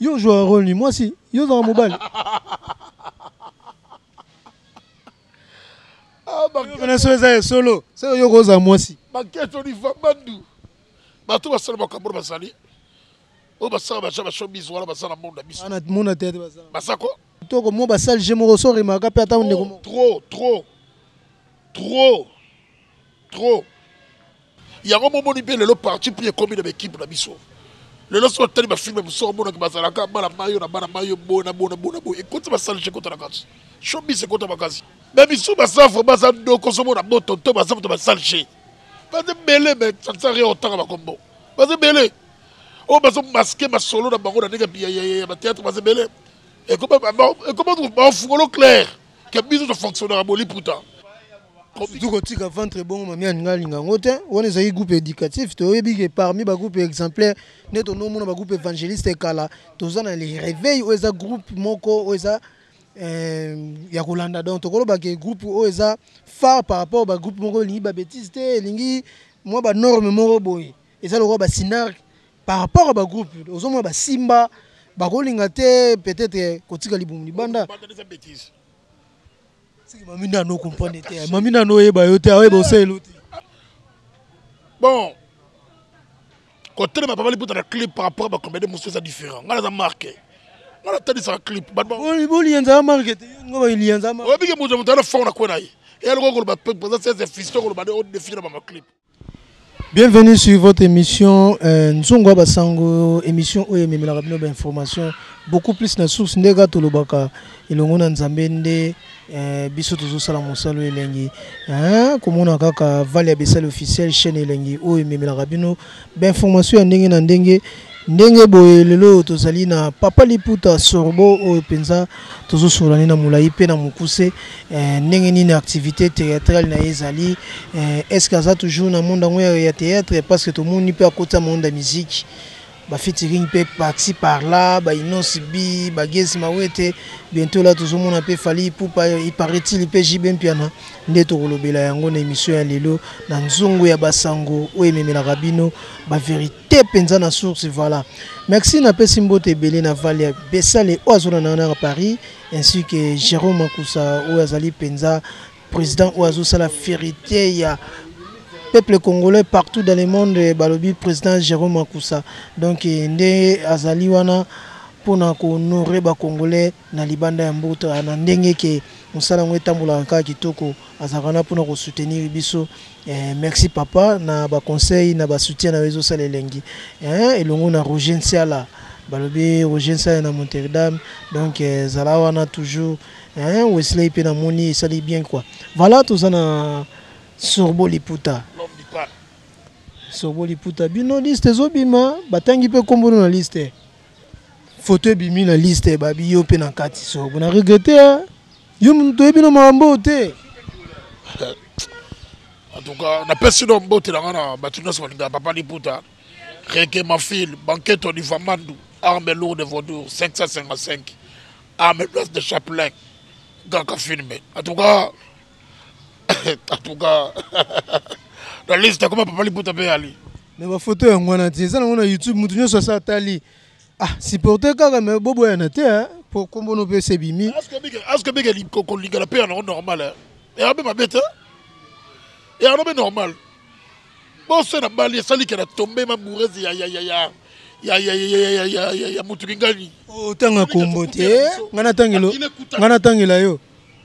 Yo ozwaka role nini? Mwasi? Yo ozalaka mobali? Wana so eza ya solo, soko yo okozala mwasi. Baketo liva bandu. Bato basala makambo bazali. Oyo basala baja ba showbiz wana baza na monde na biso. Ana mona te te basala. Baza ko? Toko mo basali je moko so remarka pe ata ndeko moko. Trop, trop. Trop. trop yango bomoni mpe lelo parti pris ekomi na baekipe na biso lelo soki otali bafilme mosusu omonaki bazalaka bana mayo na bana mayo boye na boye na boye na boye ekoti basalge ekota na kati shobis ekota makasi me bisu baza vraimen baza ndoko ozomona boto to baza moto basalge baza ebele me sansari otanga bakombo baza ebele oyo bazomaske masolo na bango na ndenge ya bateatre baza ebele ekoma bafungolo claire que biso to fonctionnaka boliputa surtout kotika ventre ebongo mami alingi alinga yango te wana ezalaki groupe éducatif toyebi ke parmi bagroupe exemplaire nde tonomona bagroupe évangéliste kala toza na le réveil oyo eza groupe moko oyo eza eh, ya kolanda donc tokoloba ke groupe oyo eza phare par rapport bagroupe moko elingi babétise te elingi mwa banorme moko boye eza lokola basinarque Par rapport ya ba groupe ozo mona ba simba bako linga te peut etre ko tika libumu libanda. Siki mami na no comprendre te. Mami na no yeba yo te, oyeba oselo te. Bon. Ko telema papa liputa na clip par rapport ba comédie mususu eza différent. Ngala za marque. Ngala tadi sa clip. Ba bon. Bo lienza ya marque te. Ngo ba lienza marque. Obi ke muzo mutana fond na kwena ye. Et alors ko ba présence c'est fisto ko ba de haute défi na ba clip. Bienvenue sur votre émission euh, Nzongo ya Basango, émission oyo ememelaka bino bainformation beaucoup plus na source nde kaka tolobaka elongo na Nzambe nde euh, biso tozosala mosala oyo elengi hein? komona kaka vale ya besali officiel chaîne elengi oyo ememelaka bino bainformation ya ndenge na ndenge ndenge boye lelo oyo tozali na papa liputa sorbo oyo mpenza tozosolola ne na molai mpe na mokuse eh, ndenge nini activité théâtrale na ye ezali eh, est ce que aza toujours na monde yango ya théâtre parce que tomoni mpe akota monde ya musique bafitiring mpe parti par là bainosi bi bagesi mawete bientôt la tozomona mpe fali ipupa iparetil mpe jb mpiana nde tokolobela yango na émission ya lelo na nzungu ya basango oyo ememelaka bino baverité te penza na source voilà merci na pesi mbote ebele na valia besale oyo azona na na paris ainsi que jérôme makusa oyo azali penza président oyo azosala ferite ya peuple congolais partout dans le monde eh, balobi président jérôme makusa donc eh, nde azali wana mpona kohonore bacongolais na libanda ya mboka na ndenge que musala yango etambolaka kaka kitoko azalaka wana pona ko soutenir biso merci papa na ba conseil na ba soutien nayo ezosala elengi elongo na Roger Nsiala balobi Roger Nsiala na Monterdam donc zala wana toujours Wesley pe namoni esali bien quoi voilà toza na Sorbo Liputa Sorbo Liputa bino liste ezobima batangi pe kombo na liste Photo ebimi na liste ya babi yo pe na kati so na regrette hein? yo moto oyebi na makambo te en tout cas napesi no mbote na ngai na bato nyonso balingaka papa liputa reke mafil banketo livamandu arme lourde vaudour 555 arme place de chaplain gaka filme en tout cas en tout cas la liste akoma papa liputa mpe ali me bafoto yango wana te eza nango na youtube moto nyonso asa atali ah supporte kaka me boboyana te eh, mpo nkombono mpe se bimi aske bike kolingana mpe yango normal eh. yango mpe mabe te yango mpe normal bose na bali esalike na tombe mabourese ya ya ya ya ya motuki ngani otanga kombo te ngai natangela yo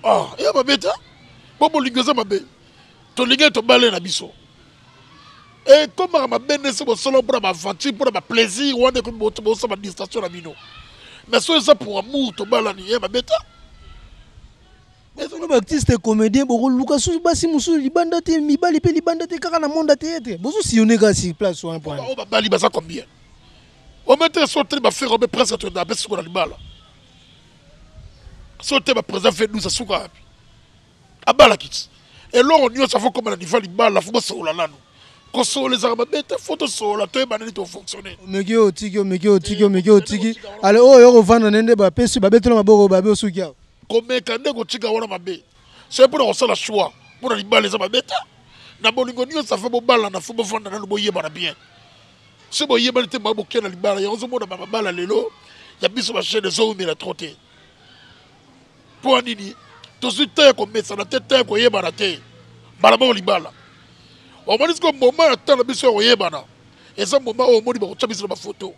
ah ya mabe te mpo bolingo eza mabe tolingaki tobale na biso ekomaka mabe nde se bosolo mpo na baaventure mpo na baplaisir wana ekomi bosa badistraction na bino mais soki eza pour amour tobalani ya mabe te bino baartiste comédien bokoluka susu basi mosusu libanda te mibali mpe libanda te kaka na monde ya teyatre bozosillone kaka sur place wana mpo oyo babali baza combien ometele so tele bafere obe presque toyenda mpe sikola libala so te baprésida vedus asuka wapi abala kiti eloko nyonso afo koma na diva libala fo bosolola nano kosolola ezalaka mabe te fo tosolola toyeba nani tofonctionne omeki oyo otiki omeki oyo otiki omeki oyo otiki ale oyo yo kovanda nde nde bapesi babetela maboko babe osuki awa komeka nde kotika wana mabe soki mpona kosala choix mpona libala eza mabe te na bolingo nyonso afo bobalana fo bofanda nano boyebana bien soki boyebani te baye bokenda libala yango ozomona bamabala lelo ya biso bashene ezoumela tro te mpo ya nini tozwi te ya komesana te te ya koyebana te mbala moko libala omoni siko mboma ya ntango na biso ya koyebana eza mboma oyo omoni bakotya biso na bafoto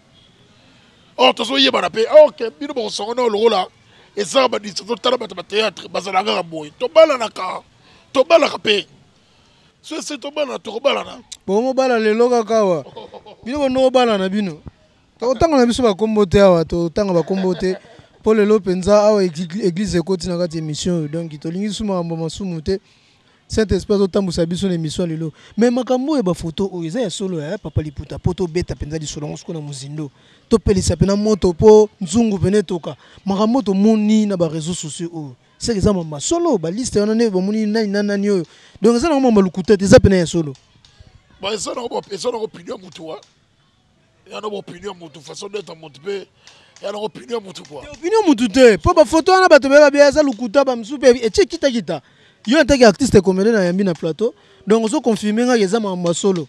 or tozoyebana mpe ok bino bakosangana oyo lokola ezaka badisa totala bato ya bateatre bazalaka kaka boye tobalanaka tobalaka mpe Bongo bala lelo kaka awa bino bando obala na bino tokotanga na biso bakombo te awa totanga bakombo te mpo lelo mpenza awa eglise ekoti na kati émission oyo donc tolingi lisusu makambo masumu te saint esprit azotambwisa biso na émission ya lelo mais makambo oyo bafoto oyo eza ya solo ya papa liputa mpo tobeta mpenza lisolo yango soko na mozindo topelisa mpena moto mpo nzungu mpena etoka makambo tomoni na bareseau sociaux oyo Seke eza mambo ya solo ba liste wana nde bomoni nani na nani oyo donc eza nango mambo ya lokuta te eza pena ya solo ba eza nango eza nango opinion ya motu wa eza nango opinion ya motu façon d'être ya motu mpe eza nango opinion ya motu kua opinion ya motu te mpo bafoto wana bato bayeba bia eza lokuta bamosusu mpe etie kitakita yo atake artiste comedien na yambi na plateau donc ozo confirme ngaki eza mambo ya solo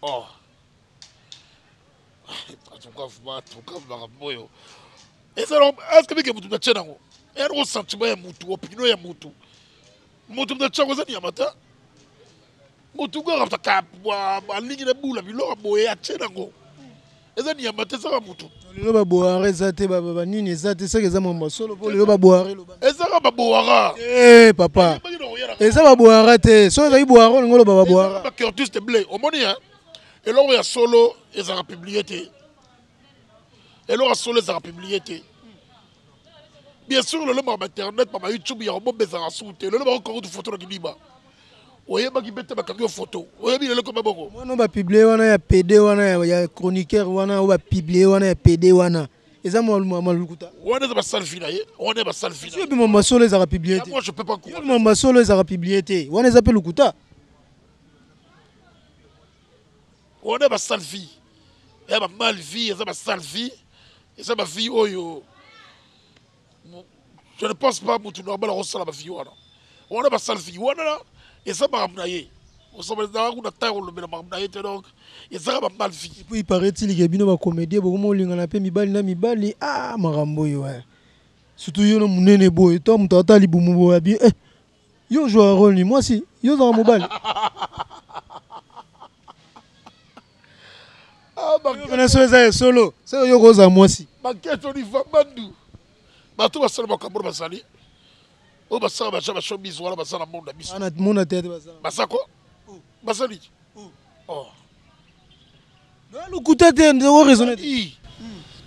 oh. ezalakebike motu natie nango yango sentiment ya motu opinion ya motu motu natie yango eza nyama te motu kaka alingi na bula biloko boye atie nango eza nyama te ezaka motu lelo baboara eza te banini eza te soki eza mambo ya solo mpo lelo baboara ezaka baboara eh, papa eza baboara te soki ezalaki boara olingi oloba baboara omoni eloko ya solo ezalaka publie te eloko ya solo ezalaka publie te bien sûr lelo baka bainternet baka youtube yango bobe ezalaka suku te lelo bakoki kokutu foto na kidiba oyebaki mpe te bakangi yo foto oyebi lelo koma boko wana bapiblie wana ya pede wana ya chroniqueur wana oyo bapiblie wana ya pede wana eza malukuta wana eza basale fina ye wana basale fina bima masolo ezalaka publie te bima masolo ezalaka publie te wana eza mpe lokuta wana ba sale vie ya ba mal vie eza ba sale vie eza ba vie oyo je ne pense pas mutu normal akosala ba vie wana wana ba sale vie wana eza makambo na ye osabaezaka kuna ntango olobela makambo na ye te donc ezaka ba mal vie epuis iparetil ke bino bacomédie bokoma olingana mpe mibali na mibali a ah, makambo oyo eh. surtout yo na monene boye to moto ata libumu boye abi eh. Yo ozwaka role nini? Mwasi? Yo ozalaka mobali? Wana so eza ya solo, soko yo okozala mwasi. Baketo liva bandu. Bato basala makambo bazali. Oyo basala baja ba showbiz wana baza na monde na biso. Ana mona tete bazala. Basako? Basali? Oh. Oza lokuta te ndeko o raisonner te. Ii.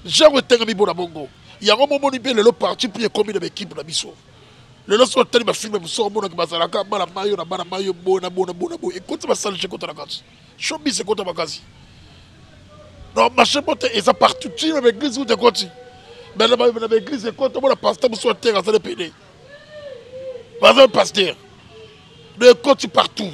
Genre etengami bona bongo. Yango momoni mpe lelo parti pris ekomi na ba equipe na biso. Lelo soki otali ba films mosusu okomona ke bazalaka bana mayo na bana mayo boye na boye na boye na boye. Ekoti ba salite ekota na kati. Showbiz ekota makasi. Donc marche bote eza partout ti na ba eglise kutu ekoti. Mais na ba na ba eglise ekoti omona pasteur mosusu ateka aza nde pede. Baza pasteur. Donc ekoti partout.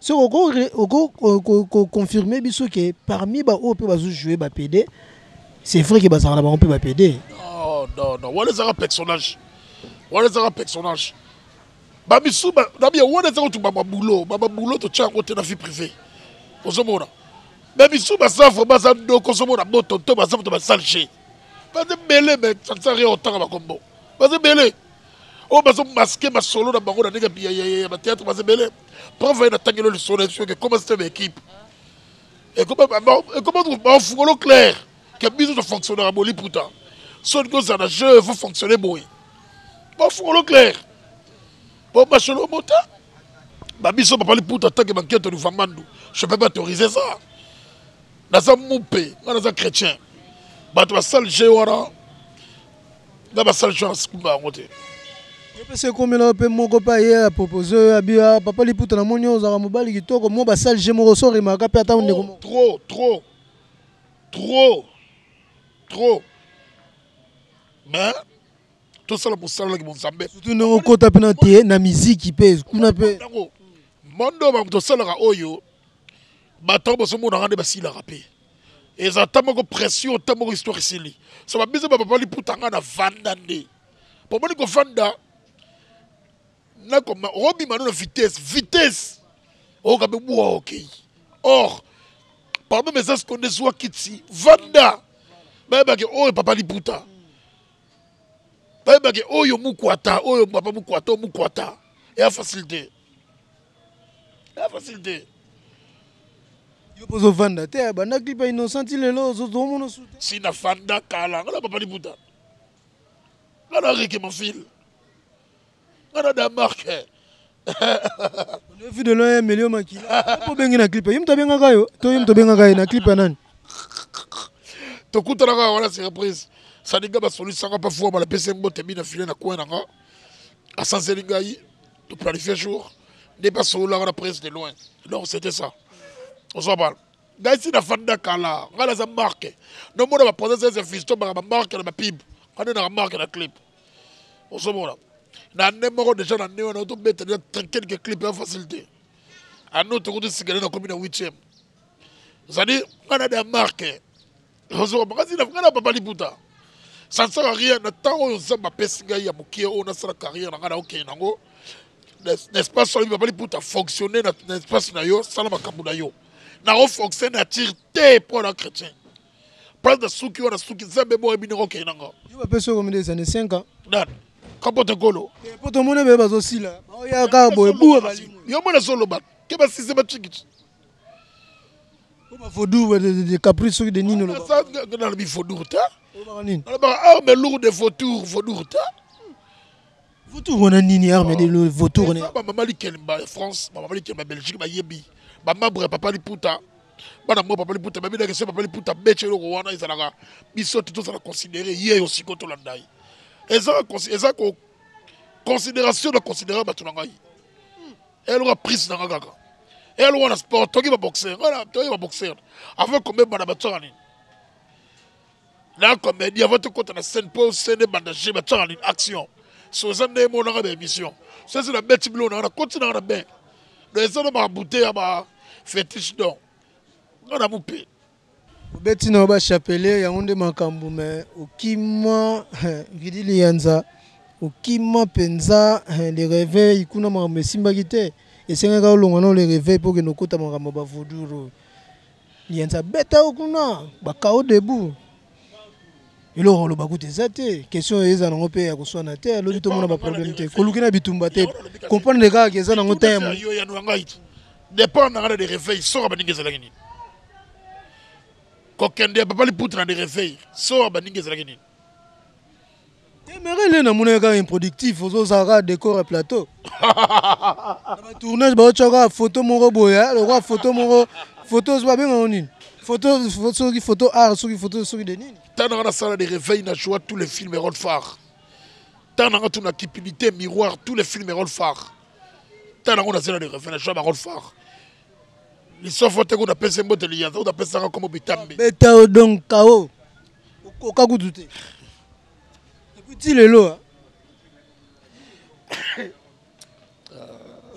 Ce qu'on confirme biso que parmi ba oyo pe bazo jouer ba PD, c'est vrai que bazala na bango pe ba PD. Non, non, non. Wana ezaka personnage. Wana ezaka personnage. Ba bisu ba na bien wana ezaka tu ba boulot, ba boulot to tcha côté na vie privée. Ozomona. Mais bisu ba sa vraiment za ndoko ozomona boto to ba za to ba sale jeu. Baza ebele mais ça ne sert rien otanga bakombo baza ebele oyo bazo maske masolo na bango na ndenge ya bateatre baza ebele prof aye natangelo lisolo na biso ke comment système ya équipe ekoma bafungolo claire ke biso tofonctionnaka boliputa soki kozala na jeu fo fonctionne boye bafungolo claire po masolo mota babiso papa liputa atake banketo livangandu je peux pas autoriser ça naza mupe nga naza chrétien bato basali je wana nga basali sho nasikumba yango te epesi ekomela yo mpe moko mpe aye apropose oyo abia papa liputa na moni ozalaka mobali kitoko mwa basali je moko so remaka mpe ata ndeko moko trop trop trop trop mais tosala mosala na kibonzambe surtout ndenge okota mpe na te na miziki mpe kuna mpe mondo bamoto osalaka oyo bato bosomonaka nde basilaka mpe eza ta moko pression ta moko histoire esili so babize bapapa liputa nga na vanda nde po omoni kovanda nakoma obima no na vitesse vitesse okabe bua okei or pardon mais eza siko nde zwa kiti vanda bayebake oyo papa liputa bayebake oyo mukwata oyo papa mukwata oyo mukwata eya facilité ya facile te yo mpo ozofanda te abanda clip ya innocent ti lelo ozomona su te si nafanda kala ngana papa liputa ngana reke mafile ngana damarke onefi de loin ya melio makila mpo obengi na clip ye moto abengaka yo to ye moto abengaka ye na clip ya nani tokutanaka wana surprise saninga basolisanga pa fuama napesi mbote mi na file na kwe nanga asanzeli ngai to planifie jour nde mpe asololaka na prince de loin donc c'était ça ozoa bana ngai si nafandi na kala ngai naza marke nomona baprosese ya fisto baka bamarke na bapibe ngai nde naka marke na clip ozomona na nde moko deja na nde wana otobeta deja quelque clip ya facile te anoto kutu sikele nakomi na huitième ozali ngai na de ya marke ozoka makasi na ngai na papa liputa ça ne sert à rien na ntango oyo nzambe apesi ngai ya mokie oyo nasala carrière na ngai naokende nango na espace oyo papa liputa fonctionne na espace na yo sala makambo na yo naofonctionne na tire te mpo na chrétien place nasuki oyo nasuki nzambe boye bino okende na nga yo bapesi oyo komide ezane 5 ans nani kapote golo eh, po tomoni bee bazosila baoya kaka boye buwa bali yo mwana azoloba ke basise batikiti Oba vaudou de caprice soki de nini oba ça que dans le vaudou ta. Oba nini? Oba arme lourde de vaudou vaudou ta. Vaudou wana nini arme de lourde vaudou ne. Ba maman likel ba France, ba maman likel ba Belgique ba yebi. Ba mabre papa liputa. Bana mo papa liputa ba bina kese papa liputa beche loko wana ezalaka biso tout ça la considérer hier au sikoto landai. Eza eza ko considération na considérer batu na ngai. eloka prise na nga kaka elo wana sport toki ba boxeur wana toki ba boxeur avant kombe bana batsaka nini na comédie avant tokota na scène mpo scène ebanda je batsaka nini action so eza nde emonaka ba émission so eza na beti bilo nanga nakoti nanga na bain donc eza na ba bouteille ya ba fétiche donc nga na mupe Obeti na yo ba chapelet yango nde makambu mais okima Guilly Liyanza okima penza le reveil kuna makambu esimbaki te esengaki kaka olongwa nao le reveil po okende okota makambu ya ba vaudure oyo Liyanza abeta yo kuna ba chaos debout eloko ya koloba kutu eza te question oyo eza nango pe ya koswana te lobi tomona ba problème te koluki na bitumba te comprendre kaka ke eza nango temps ya. Depart na nga na le reveil soka baninga ezalaki nini? kokende ya papa liputa na dereveil soa baninga ezalaki nini emerele namonaki kaka improductif ozozala kaka décor ya plateau na batournage baotya kaka foto moko boye eh, lokola foto moko foto babengango nini foto soki foto art soki foto soki de nini ntango nanga nasala de réveil na joa tous les films erol phare ntango nanga tuna cupidité miroir tous les films erol phare ntango nango nazela de réveil na joa barol phare lisofo te kuna pese mbote liyanza kuna pesanga nkombo bitambe beta yo donc kao okoka kutu te epuis ti lelo ah.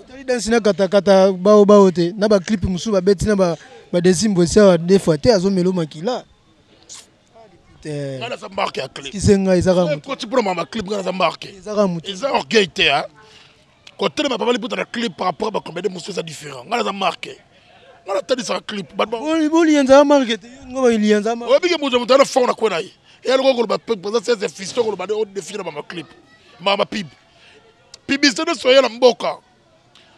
otali dansi na katakata bao bao te na baclipe mosusu babeti na badesimbo esi awa de fois te azomelo makila kisenga ezaka motu ezaka orgueil te kotelema papa liputa na clip par rapport bacomédie mosusu eza différent ngai naza marke ngai natalisaka clip bolienzaa marke te ngo balienza oyebike moto moto ana fort na kwe na ye eya lokola koloba présence sese fisto koloba de odefile na bama clip mama pib pibisite nyonso ya na mboka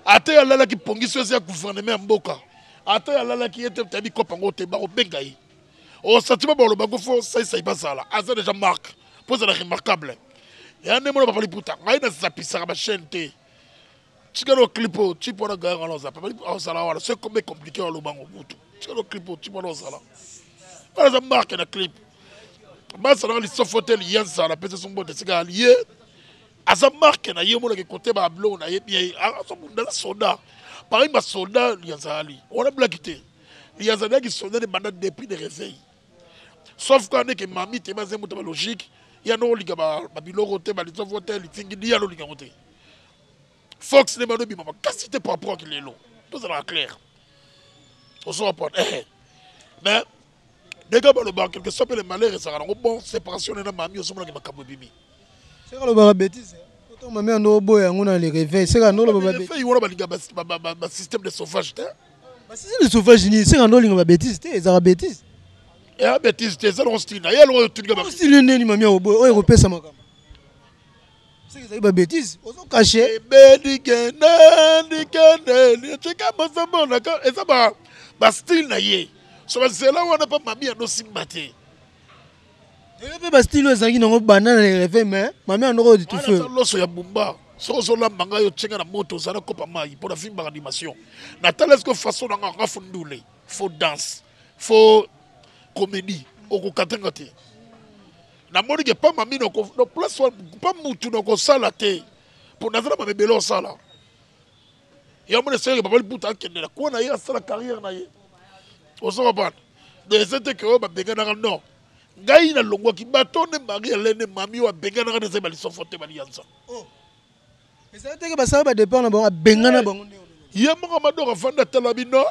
ata ye alalaki pongi so eza ya gouvernement ya mboka ata ye alalaki ye te tayebi kopa ngo te bakobenga ye osatima balobako fo saisai bazala aza deja marque mpo ezala remarquable ya nde mona papa liputa ngai nazapisaka bachaine te tikalo clip oyo tipe wana gaya wana oza papa liputa ozala wana se kombe compliqué aloba yango kutu tikalo clip oyo tipe wana ozala wana aza marque na clip bazalaka lisofo te liya nzala mpe sesombote esika aliye aza marque na ye omonaka ekote babiloko na ye bien azobunda na soda parmi basoda ya nzali wana blaki te mais azalaki sonene banda depuis de reveil sauf kaka ndeke mami te baze moto ba logique ya noko linga babiloko te balisofo te litingi liya lolinga yango te fox nde bano bima makasi te par rapport kilelo tozalaka claire ozo comprendre eh mais ndenge balobaka quelque soit mpe le malheur ezalaka nango bon séparation nena mami ozomonaki makambo ebimi Seka lobaka betise. Poto mame ando oboya yango na le réveil. Seka ando lobaka betise. Fei wana balinga ba système de sauvage te. Ba système de sauvage ni seka ando linga ba betise te ezaka betise. Eh ba betise te zalo style na yalo oyo tulinga ba. Style neni mame oboya oyo kopesa makama. Seka ezali ba betise ozo cacher. Eh, Bedi kende ndi kende tika bozo mona ka eza ba ba style na ye. So ba zela wana pa mami ando simba te. Lelo mpe ba style oyo ezalaki nango banda na reve mais mame yango oyo ditufe aza loso ya bumba soki ozolamba ngai otie ngai na moto oza na kopa mai mpo navimbaka animation natala esiko façon na ngai ngafu ndule fo danse fo comédie okokata nga te namoni ke pa mami place pa mutu nakosala te mpo naza na mamebele osala yango na esengaki papa liputa akende na kuna na ye asala carrière na ye ozo comprendre donc eza te ke oyo babenganaka non ngai nalongwaki bato nde marie alene mami oyo abenganaka na ezali balisofo te baliyanza oh. ezali teke basala badepart na bango abengana eh. bango nde ye moko madoka afandi atala bino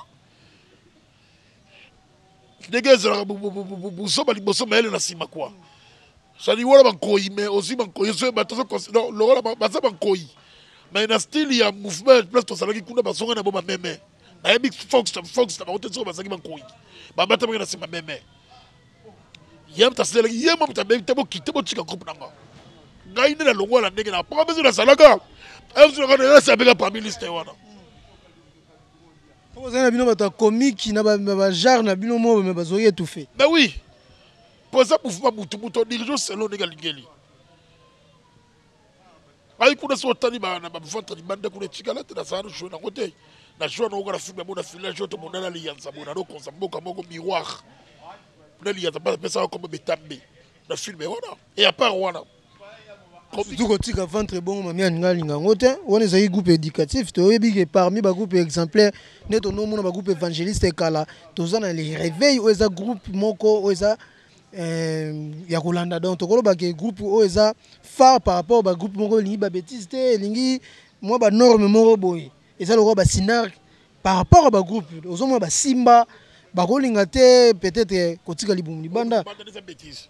ndenge ezalaka buzoba liboso mayele na nsima kua sali wana bankoyi me ozwi bankoyi ozwi bato lokola baza bankoyi me na style ya mouvement place tozalaki kuna bazonga na bo bameme nayebi fox fox na bango te soki bazalaki bankoyi babatamaki na nsima meme ye moto asilelaki ye mo moto abebi te bokite botika groupe na nga ngai nde nalongwa na ndenge na papa mpe nazalaka ezalaka na yasi abeka parmi liste wana Papa ozali na bino bato ya komiki na bajare na bino moko me bazwaki etufe ba wi mpo eza mouvema butu butu odirige oselo ndenge alingeli ngai kuna soki otali na baventre libanda kuna etikala te nazala nojoue nango te na joue nango kaka na filme yango na filage oyo tomonana liyanza boye nalokonza mboka moko miroir na liyanza mpe napesaka kombo betambe na filme wana e apart wana Ozo kotika ventre ebongo mamie alinga alinga yango te wana ezali groupe éducatif toyebi ke parmi ba groupe exemplaire nde tonomona ba groupe évangéliste kala toza na le réveil oyo eza groupe moko oyo eza eh, ya kolanda donc tokoloba ke groupe oyo eza phare par rapport ba groupe moko elingi ba bêtise te elingi mwa ba norme moko boye eza lokola ba synarque par rapport ya ba groupe ozomona basimba bakolinga te peut-être kotika libumu libanda Banda eza bêtise.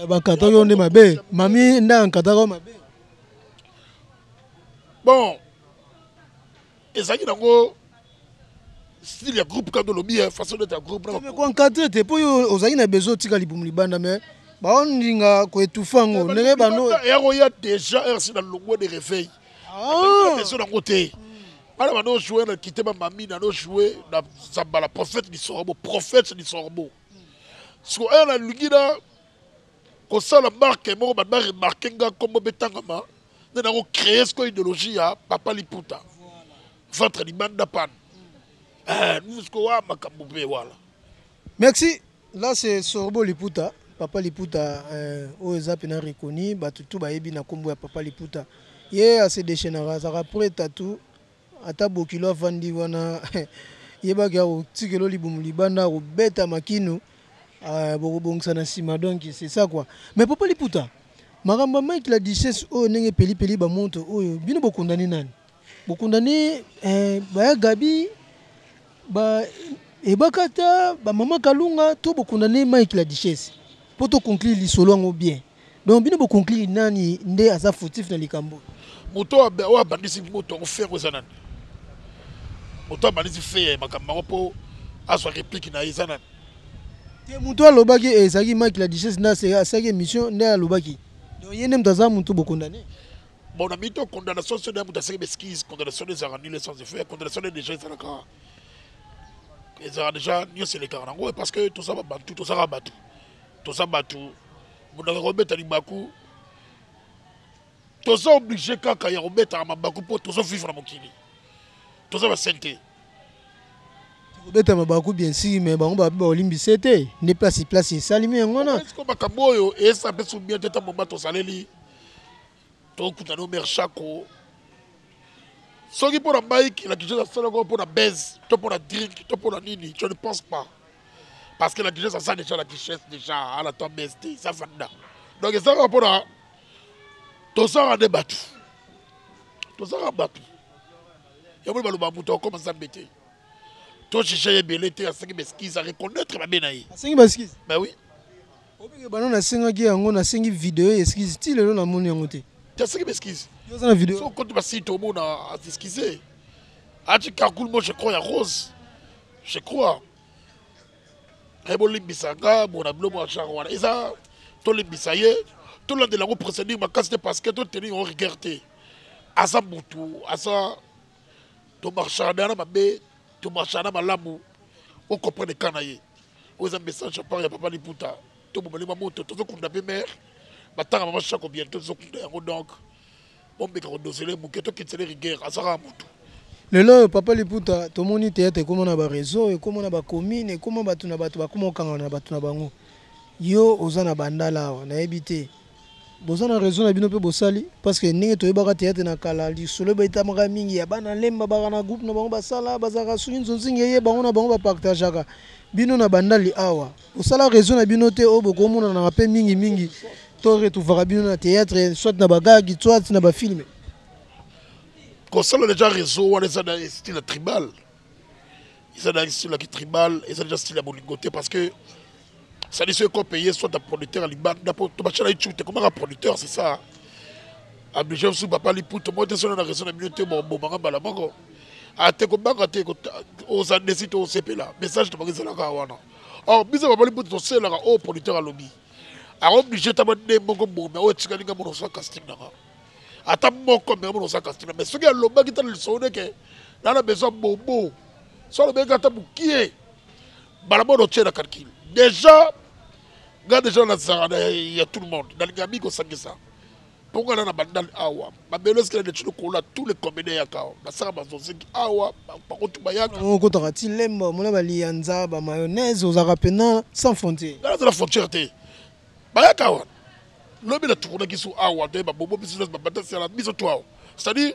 Eh, bakata yo nde mabe mami nde ankataka mabe bon ezalaki nango style ya groupe kaka olobi ya façon d'être ya groupe koencadre te mpo yo ozalaki na besoin otika libumu libanda mais baolinga koetufa yango ndenge bando yango ya déjà rc na longwa de réveil ah. besoin nango te bana bano joue na kite bamami nano joue na zambala prophète lisorbo prophète lisorbo siko oyo nalingi na kosala marke moko ba remarke nga nkombo mpe tangama nde nako créer siko idéologie ya papa liputa ventre libanda pane eh, siko wa makambo mpe wala merci là c'est sorbo liputa papa liputa euh, oyo eza mpena reconi bato tu bayebi na nkombo ya papa liputa ye ase déchaînaka azalaka preta tu Ata bokilo avandi wana yeba ke ako tikela yo libumu libanda ako beta makinu euh, boko bongisa na sima donc c'est ça quoi. Mais papa liputa makambo ya Mike la duchesse oyo ndenge peli peli ba montre oyo bino bo condamne nani? Bo condamne euh, baya Gabi ba Ebakata ba maman Kalunga to bo condamne Mike la duchesse? Po to conclure lisolo yango bien. Donc bino bo conclure nani nde aza fautif na likambo oyo? Moto oyo abandisi moto yango Ferre eza nani? Moto abandisi Ferre makambo yango mpo azwa replique na ye eza nani? Te moto alobaki eh, ezalaki Mike la duchesse nde asalaki émission nde alobaki donc ye nde moto aza moto bo condamne bon na mito condamnation soki ya moto aseki beskise condamnation ezalaka nile sans effet condamnation nde déjà ezalaka ezalaka déjà nyonso elekaka nango parce que toza babantu tozaka bato toza batu moto akaka kobeta libaku toza oblige kaka ya kobetaka mabaku mpo tozo vivre na mokili toza basele te kobeta mabaku bien sûr mais bango babe baolimbise te nde place place esalimi yango wana makambo oyo esa mpe subien te ntango moma tozaleli Tokuta no mère Shako. Soki pona Mike la Guigesse asala ko pona buzz, to pona drink, to pona nini, je ne pense pas. Parce que la Guigesse aza déjà la Guigesse déjà, ala to buzz te, ça vanda. Donc eza ko pona tozanga nde bato tozanga bato yango baloba moto akoma nzambe te tojuge ye ebele te asengi baskize areconnaitre mabe na ye asengi baskize ba oui Obike bana na sengaki yango na sengi video ya excuse ti lelo na moni yango te. Ya sengi ba excuse. Yo za na video. So kote ba site obo na excuse. Ati kakul mo je crois ya rose. Je crois. Ebo eh, limbisa nga mo na bilo mo genre wana. Eza to limbisa ye. To la de la ko procédure makasi te parce que to tenir en rigueur te. Aza mutu, aza tomarchaka deja na mabe tomarchaka na malamu o comprendre cas na ye oyo eza message ya part ya papa liputa to bobale mwa moto tozokunda mpe mare batanga mama shako bientôt tozokunda yango donc bomeka kodosele moke tokitisele rigueur azalaka motu lelo oyo papa liputa tomoni teyate ekoma na bareseau ekoma na bacommune ekoma bato na bato bakoma kokangana na bato na bango yo oza na bandala awa nayebi te Boza na raison na bino pe bosali parce que ndenge toyebaka theatre na kala lisolo ebetamaka mingi ya bana lemba baka na groupe na bango basala bazalaka soki nzonzi ngeye bango na bango ba partageaka bino na bandali awa bosala raison na bino te oyo bokomonanaka pe mingi mingi to retrouvaka bino na theatre soit na ba gag soit na ba film kosala deja réseau wana eza na style ya tribal eza na style ya kitribal eza deja style ya bolingo te parce que sali so eko paye soit a producteur ya libanda po tobacela icu te komaka producteur c'est ça ablige bisu papa liputo moko te sono na raison na bino te bobomaka mbala moko ate ah, kobanga te oza desi te osepela message tobaki ezalaka wana or biso papa liputo toselelaka oyo oh, producteur alobi aoblige ta bande moko bome oyo etikali nga mona osala casting nanga ata moko me mona osala casting na mais soki alobaki tala lisoneke nana besoin bobo so alobeki ata mokie balabona otie na calcul déjà nga déjà nazalaka ya tout le monde nalinga mingi kosangisa mpo nga na na bandal awa babelo esikela neti lokola tous les combine yaka awa basaka bazoziki awa bakutu bayaka okotaka ti lemba omona baliyanza bamayonnaise ozalaka mpena sans frontière nga nazala frontière te bayaka awa lobi natukunaki so awa nde babobo biso babata siala biso to awa c'est-à-dire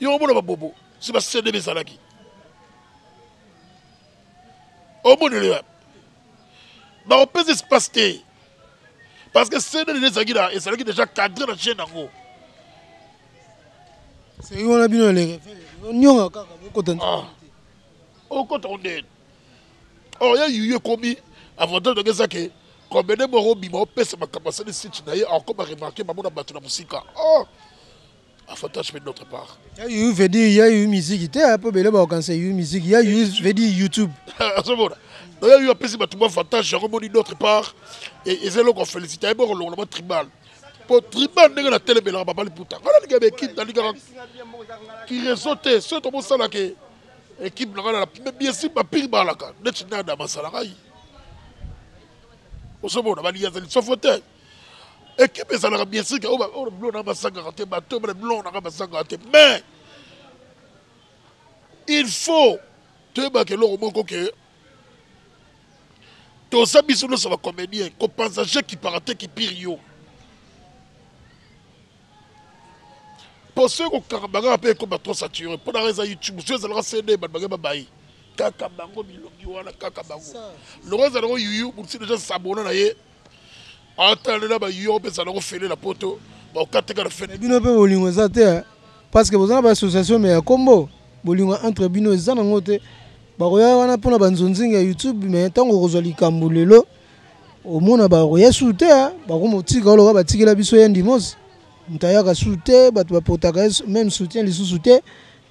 yo omona babobo si basede bezalaki omonelo ya bakopesa espace te parce que cnn ezalaki na ezalaki déjà cadre na chaîne yango soki wana bino nionga kaka bokota okota ah. ondeni or ya yuyu ekomi avantage nange eza ke combede moko obima opesa makambo asali site na ye encore baremarke bamona bato na mosika or avantage mpe notre part ya yuyu veut dire ya yuyu miziki te mpo eh, bele baokanisa yuyu miziki ya yuyu veut dire youtube azomona ah, ya yuyu apesi bato bavantage yango moni notre part eza eloko afélicite ayebi okolongola ba tribal mpo tribal ndenge natelemelaka babali puta ngai nalingaka baekipe nalingaka kirezo te soki tomosalake ekipe na ngai na lapime biesi bapiki balaka neti nada masala ngai ozomona baliya azali sofo te ekipe ezalaka biesike oyo bilo na basangaka te bato bana bilo na ngai basangaka te mais il faut toyebaka eloko moko ke toza biso nyonso bacomédien kopanza je kipaka te kipiri yo mpo soki kokaka bangaka mpe ekoma trop sature mpo nanga eza youtube soki ezalaka cd bato bange babayi kaka bango bilongi wana kaka bango longo ezala yango yuyu mosi deja sabona na ye atalela bayuyu yango mpe ezala yango fele na poto bakokateka na fete bino mpe bolingo eza te eh. parce que boza na baassociation me ya kombo bolingo entre bino eza nango te bakoya wana mpona banzonzingi ya youtube me ntango okozwa likambo lelo omona bakoya su te ah, bakomotika oloka batikela biso ya ndimosi moto ayaka su te bato bapotaka ye meme soutien lisusu te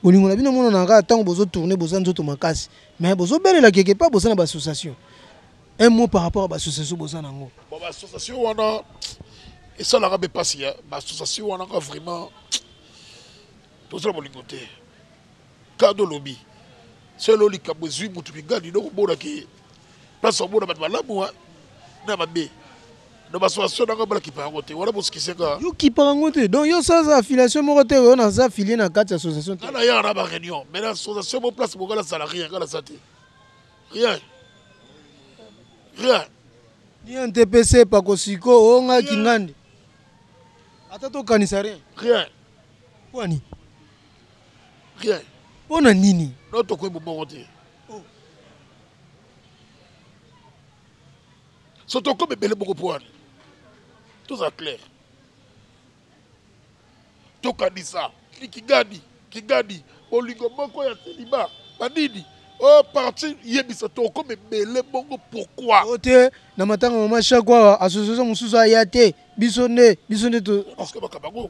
bolingo na bino emonanaka kaka ntango bozotourne boza nzoto makasi mais bozobelela quelque part boza na baassociation un mot par rapport ya baassociation boza na yango baassociation wana esalaka mpe mpasi ya baassociation wana ka vraiment tozala bolingo te Kado lobi selo likambo ezwi mutu mingani donc omona ke place omona bato malamu na mabe na basoation nanga bala kipa yango te wana bosikise nga yo kipa yango te donc yo soza affiliation moko te oyo naza affilier na kati ya association te na yaka na ba réunion mais na association mo place moko nazala rien nga naza te rien rien rien te pe sepa kosiko o nga kingandi ata tokanisa rien rien kwani rien mpo na nini no tokoki bobongo te oh. so tokomi ebele boko mpo wana toza clair tokanisa kigadi kigadi bolingo moko ya seliba banini o oh, parti yebisa tokomi ebele bongo pourkui o oh, te na matanga mama shako awa association mosusu aya te biso nde biso nde to oh. bakambango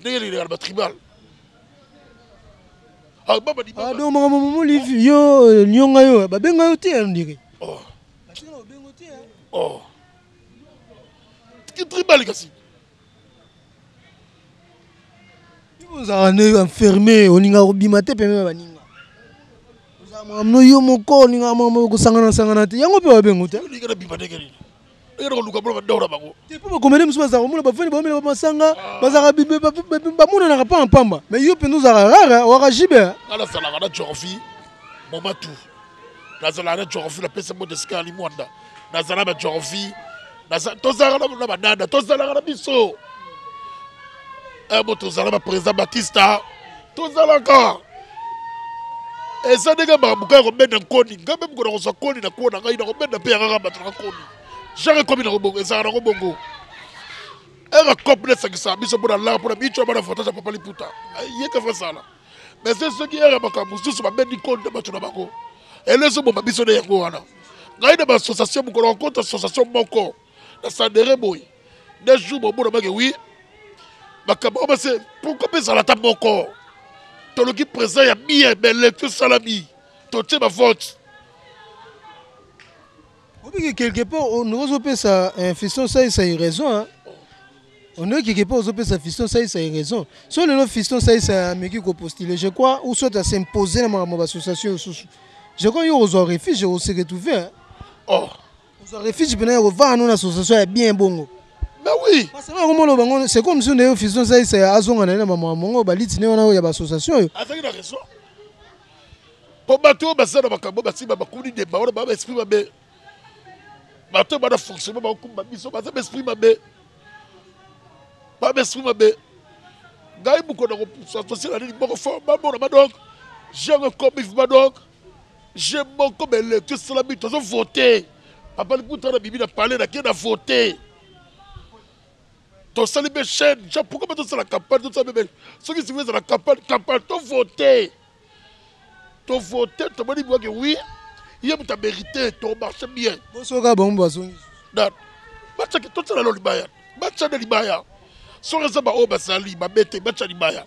ndenge elekaka na batribal ah, ah, donc makambo momoli yo euh, nionga yo babenga yo te ondire oh. oh. tribal kasi ozalaka nde enferme olingaka kobima te pembe ya baninga ozalaka makambo no yo moko olingaka makambo okosangana sangana te yango mpe babengo te eyaka koluka mpona bador na bango te mpo bakomede mosusu bazalaka komona bafani baomela bamasanga ah. bazalaka bamonanaka mpa na mpamba mai yo mpenza ozalaka rare owaka jibe nga nazalaka na geographie momatu nazalaka na geographie napesa mbote esika ali mwanda nazala na geographie tozalaka na banana tozalaka na biso eh, moto ozala na président batista tozalaka eza ndenge mabuka ya kobenda nkoni ngai mpe mokona kozwa nkoni na kuo na ngai nakobenda mpe yangaka bato na nkoni jare ekomi na kobongo ezalaka na kobongo eka cope nde esakisaka biso mpo na laa mpo na bico bana votage ya papa liputa yeke fasala mais se soki eka makambo mosusu babendi nkoni na bato na bango ele ezoboma biso nde yango wana ngai na baassociation mokolo akota association moko na sandere boye na jour bomona bake wi makambo oyo base pourkoi mpe ezala ata moko toluki président ya bien mais lecture esalami totie bavote obiki quelque part ozopesa eh, fiston saisa ye raison ondeki quelque part ozopesa fiston saisa ye raison so lelo fiston saisa ameki kopostule je crois ou soit asimpose na makambo ya baassociation osusu je crois yo ozwa refuge oseretrouve or oh. ozwa refuge mpena ya kovanda no na association ya bien bongo mais oui parce que na komona bango c'est comme si ndeyo fusion saisa azonga na ye na mama mongo baliti ne wana oyo ya baassociation oyo azalaki na raison mpo bato oyo baza na makambo basiba bakuni deba wana baa baesprit mabe bato oyo bana fonctionnement bakokumba biso baza baesprit mabe baa baesprit mabe ngai mokona kosasosie na nini moko fo bamona badonk jango ekomi badonk Je boko ba electio esalami tozo vote papa liputa na bibi na palais na ke na vote tosali mpe chaîne ja pourquoi ba tosala campagne tosala mpe soki sikoyo ezala campagne campagne to vote to vote tomoni biwake oui ye moto amerite to marche bien bosoka bango bazongi na batiaki totyela lo libaya batya na libaya soki eza baoyo bazali babete batya libaya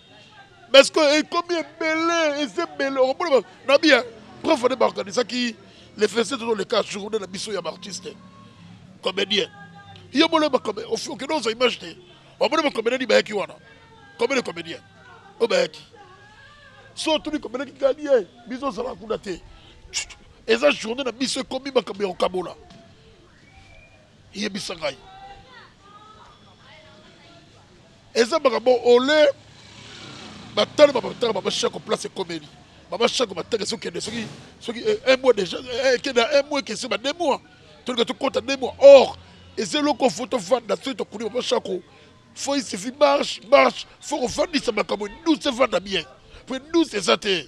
mais ce que ekomi ebele eza ebele okomona nabi ya prof nde baorganisaki le fese tozoleka journée na biso ya baartiste comédien yo mona okende ozwa image te omona bacomédien ni bayaki wana combien de comédien oyo bayaki so otuni comédien kikani ye biso ozalaka kuna te eza journée na biso ekomi makambo ya kokabola yebisa ngai Eza makambo ole ba tala ba tala ba shako place ekomeli ba shako ba tala soki kende soki soki eh, un mois déjà eh, eh, kende un mois kesi ba deux mois tout le tout compte deux mois or et c'est loko photo fan da soki tokuni ba shako faut il suffit marche marche faut qu'on fandisa makambo douce fanda bien puis douce eza te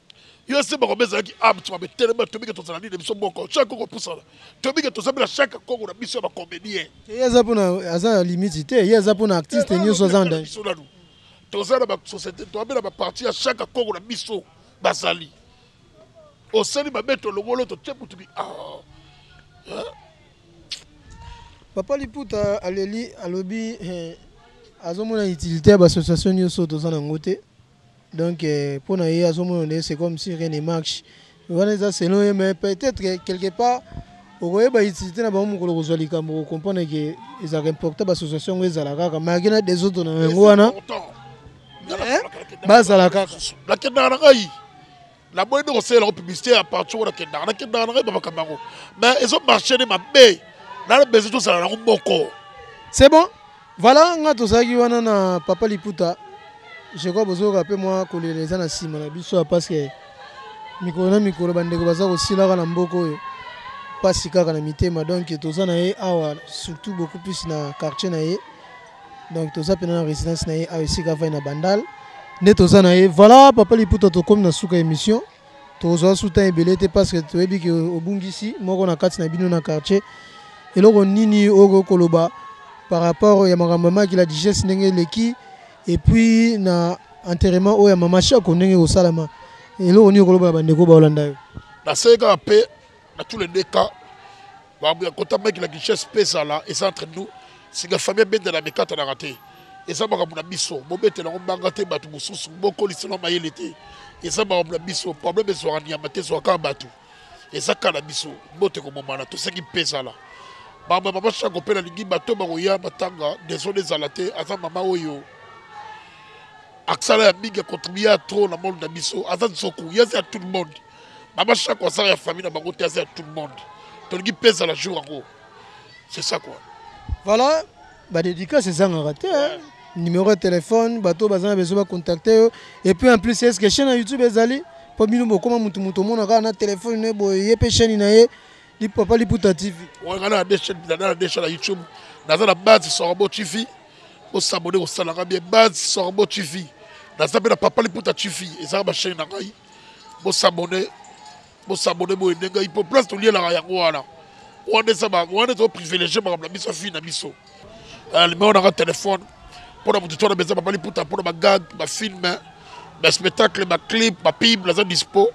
Yo Simba Ngombe ezalaki abt mabe telema toyebi ke tozala nini biso moko chaque koko pusana toyebi ke toza bela chaque koko na biso ya ba comedien Te ye aza pona aza na limite te ye aza pona artiste nioso aza na danger. biso nanu toza na ba societe toza bela ba parti ya chaque koko na biso bazali osali mabe tolongolo totie kutu bi aah hein. Papa liputa aleli alobi eh, azomona utilite ya ba association nioso toza na yango te. Donc pona ye azo mona nde c'est comme si rien ne marche wana eza selon ye mais peut-être que quelque part okoyeba utilité na bango mokolo kozwa likambo ko comprendre que ezalaka important bassociation yango ezala kaka malgré na desordre na yango wana bazala kaka nakendaka na ngai na boyi nde kosalela yango publicité ya parti wana kendaka na kendaka na ngai bamakambo yango mais ezo marche nde mabe nana bese tozala nango moko c'est bon voilà nga tozalaki wana na papa liputa je crois bozoyoka mpe mwa kolela eza na nsima na biso ya parce que mikolo na mikolo bandeko baza kosilaka na mboka oyo mpasi kaka na mitema donc toza na ye awa surtout beaucoup plus na quartier na ye donc toza pena na residence na ye awa esika avai na bandal nde toza na ye voilà papa liputa tokomi na suka émission tokozwa su temps ebele te parce que toyebi ke obungisi moko na kati na bino na quartier eloko nini oyo koloba par rapport ya makambo ya maki la digeste ndenge eleki et puis na enterrement oyo ya mama shako ndenge ekosalama eloko nini okoloba na bandeko baolanda yo naseki kaka mpe na tous les deux cas makambo ya kota maki na kinshase mpe ezala eza entre nous sika famille abendela mikatanaka te eza makambo na biso bobetela yango mbanga te bato mosusu bokolisela mayele te eza makambo na biso problème ezwaka nyama te ezwaka bato eza kaka na biso mbote komomana toseki mpe ezala makambo ya mama shako mpe nalingi bato bakoya matanga desone ezala te aza mama oyo aksala ya mingi akontribue ya trop na monde na biso aza nzoku ye aza ya tout le monde baba chaque aza ya famille na bango te aza ya tout le monde tolingi mpe ezala jour yango c'est ça quoi voilà badédicace ezangaka te hein. numéro ya telefone bato baza na besoin bacontacte yo et puis en plus est ce que chaîne ya youtube ezali mpo bino bokóma motu moto omona kaka na telefone ne boye ye mpe chaîne na ye papa liputa tv oyo na deshe na deshe na youtube naza na base sorbo tv osabone kosalaka bien base sorbo tv naza mpe na papa liputa tv ezaka bachaine na ngai Bo s'abonner, bo s'abonner bo aider ngai po place tolielaka yango wana. Wana eza ba wana to privilégier makambo na biso ya fille na biso. Euh, numéro na nga téléphone pona moto tona beza babali puta pona bagag bafilme baspectacle baclip bapible aza dispo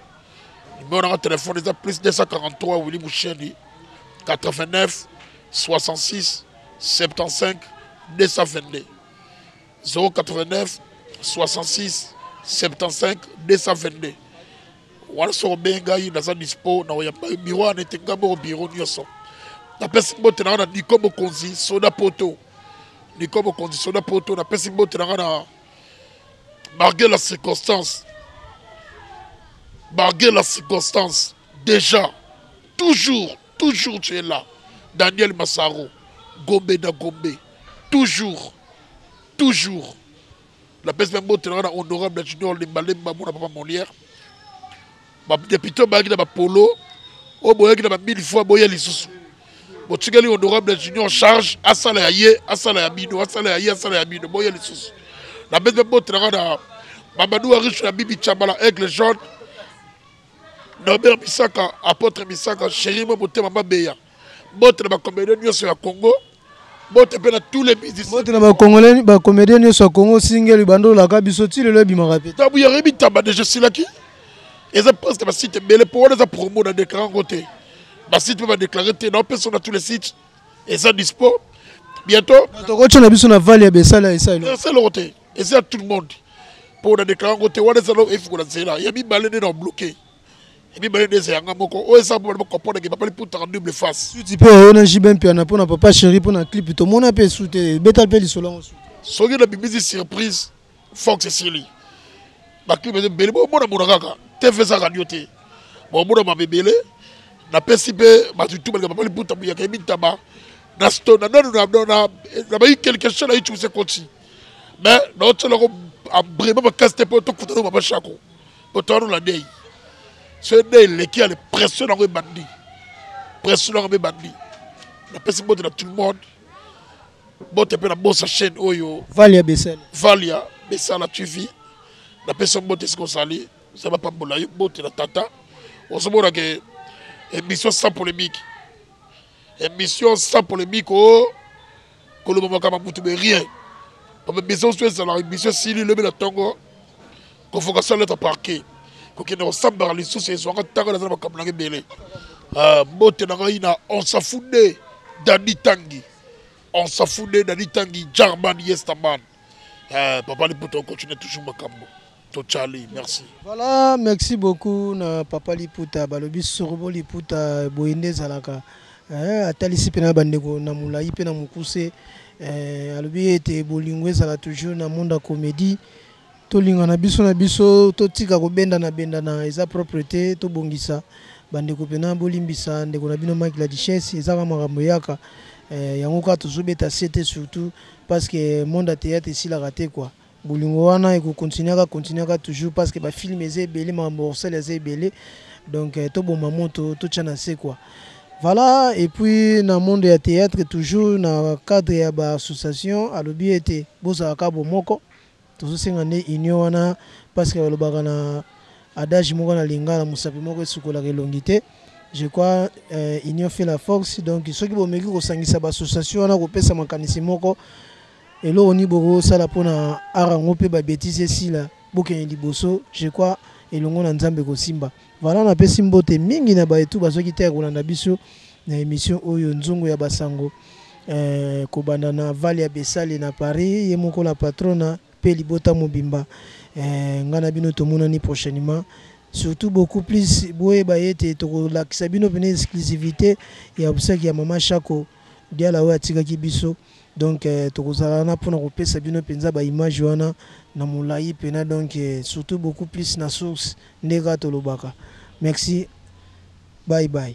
numero nanga telefone eza plus 243 willi musheni 89 66 75 222 089 66 75 222 wana soki obengi ngai naza dispo na oya biro wana ete ngai moko biro nyonso napesi mbote na ngai na niko mokonzi soda poto niko mokonzi soda poto napesi mbote na ngai na malgré la circonstance malgré la circonstance déjà toujours Toujours tu es là. Daniel Massaro, Gombe na Gombe. Toujours, toujours. La baisse même botte là, honorable Junior Limbalemba, mon papa Molière. Ma député Bagui na ba polo, au boya qui na ba mille fois boya lisusu. Botikeli honorable Junior charge, asala ya ye, asala ya bino, asala ya ye, asala ya bino, boya lisusu. La baisse même botte là, Mamadou Arish na Bibi Chabala, Aigle Jaune. Norbert Bisaka, Apotre Bisaka, Chéri Mo Motema Mabeya. Bote na ba comédien nyonso ya Congo. Bote pe na tous les musiciens. Bote na ba congolais ba comédien nyonso ya Congo singeli bando la ka biso ti lelo ebimaka pe. Tabu ya rebi tamba déjà silaki. Eza presque ba site bele po wana eza promo na déclarer ngo te. Ba site ba déclarer te na pesa na tous les sites. Eza dispo. Bientôt. Toko tshona biso na valley ya besala esa. Esa lokote. eza tout le monde mpo na deklare yango te wana eza nao efikola nzela ya mibale nde na obloke ya mibale nde eza yanga moko oyo eza mpo bana comprendre papa liputaka double face suti mpe oyo na jb mpiana mpo na papa chéri mpo na clip tomona mpe su te betal mpe lisolo yango su soki na bimisi surprise fox esili baclip eza ebele bomona mona kaka tv eza radio te bomona mama ebele napesi mpe bato tu balinga papa liputa muyaka ye mitaba na stone na nanu na bayi quelque chose na ye cuse koti mais naotyelako abrima makasi te mpo tokutana mama shako otano na dei so dei eleki ya pression nango ebandi pression nango mpe ebandi napesi bote na tout le monde bote mpe na bosa chaîne oyo valia besala valia besala tv napesi yo bote esika ozali nzambe apambola yo bote na tata ozomona ke emission sans polémique Emission sans polemique oh koloba makambo ya butu mais rien bamibisa oso ezala emission esili elobi na ntongo convocation lettre parquet kokende kosambaka lisusu ezwaka ntango naza na makambo nanga ebele ah, mbote na ngai na onsafude dani tangi onsafude dani tangi jarman yestaman ah, papa liputa okontinue toujours makambo To Charlie, merci. Voilà, merci beaucoup na papa Liputa balobi sorobo Liputa boye nde ezalaka eh, atalisi mpe na bandeko na molai mpe na mokuse eh, alobi ete bolingo ezala toujours na monde ya comédie tolingana biso na biso totika kobendana bendana eza propre te tobongisa bandeko mpena bolimbisa ndeko na bino mike la duchesse eza kaka makambo eyaka eh, yango kaka tozobeta se te surtout parce que monde ya théâtre esilaka te kua Bolingo wana eko continuer kaka continuer kaka toujours parce que ba films eza ebele makambo ya kosala eza ebele donc to boma moto to tia na se quoi. Voilà et puis na monde ya theatre toujours na cadre ya ba association alobi ete bozala kaka bomoko tozo senga nde union wana parce que balobaka na adage moko na lingala mosapi moko esukolaka elongi te je crois union fait la force donc soki bomeki kosangisa ba association wana kopesa makanisi moko Eloko nini boko sala pona art yango pe ba betise esila bokende liboso je crois elongo na nzambe ekosimba voila na pesi mbote mingi na baye tout bazoki te ya kolanda biso na emission oyo nzungu ya basango eh, kobanda na valia besale na paris ye moko la patrona pe libota mobimba eh, nga na bino tomonani prochainement surtout beaucoup plus boyeba yete tokolakisa bino pene exclusivité ya obsèque ya mama shako Diala oyo atikaki biso donc tokozala wana pona kopesa bino penza ba image wana na molayi pena donc surtout beaucoup plus na source nde kaka tolobaka merci bye bye.